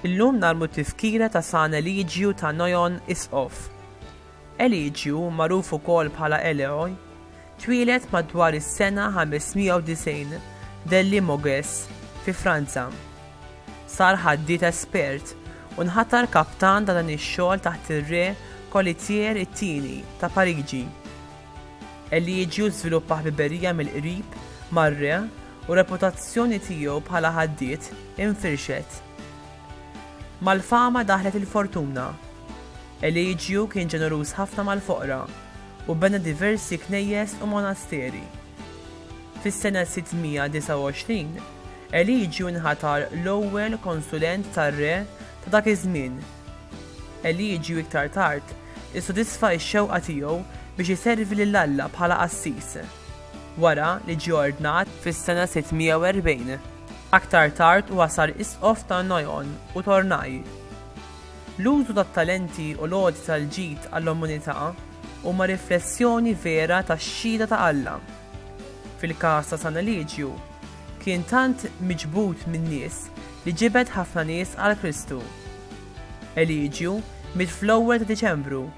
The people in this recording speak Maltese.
Illum nagħmlu tifkira ta' San Eliġju ta' Noyon Isqof. Eliġju, magħruf ukoll bħala Eleoj, twieled madwar is-sena 590 de Limoges fi Franza. Sar ħaddied espert u nħatar kaptan ta' dan ix-xogħol taħt ir-Re Colitier it-Tieni ta' Pariġi. Eliġju żviluppa ħbiberija mill-qrib mar-re u reputazzjoni tiegħu bħala ħaddied infirxet. Mal-fama daħlet il-fortuna. Eliġju kien ġeneruż ħafna mal-foqra u bena diversi knejjes u monasteri. Fis-sena 629, Eliġju nħatar l-ewwel konsulent tar-re ta' dak iż-żmien. Eliġju iktar tard issodisfa x-xewqa tiegħu biex iservi lil Alla bħala qassis, wara li ġie ordnat fis-sena 640. Aktar tard huwa sar isqof ta' Noyon u Tournai. L-użu tat-talenti u l-għoti tal-ġid għall-umanità huma riflessjoni vera tax-xhieda ta' Alla. Fil-każ ta' San Eliġju, kien tant miġbud min-nies li ġibed ħafna nies għal Kristu. Eliġju miet fl-ewwel ta' Diċembru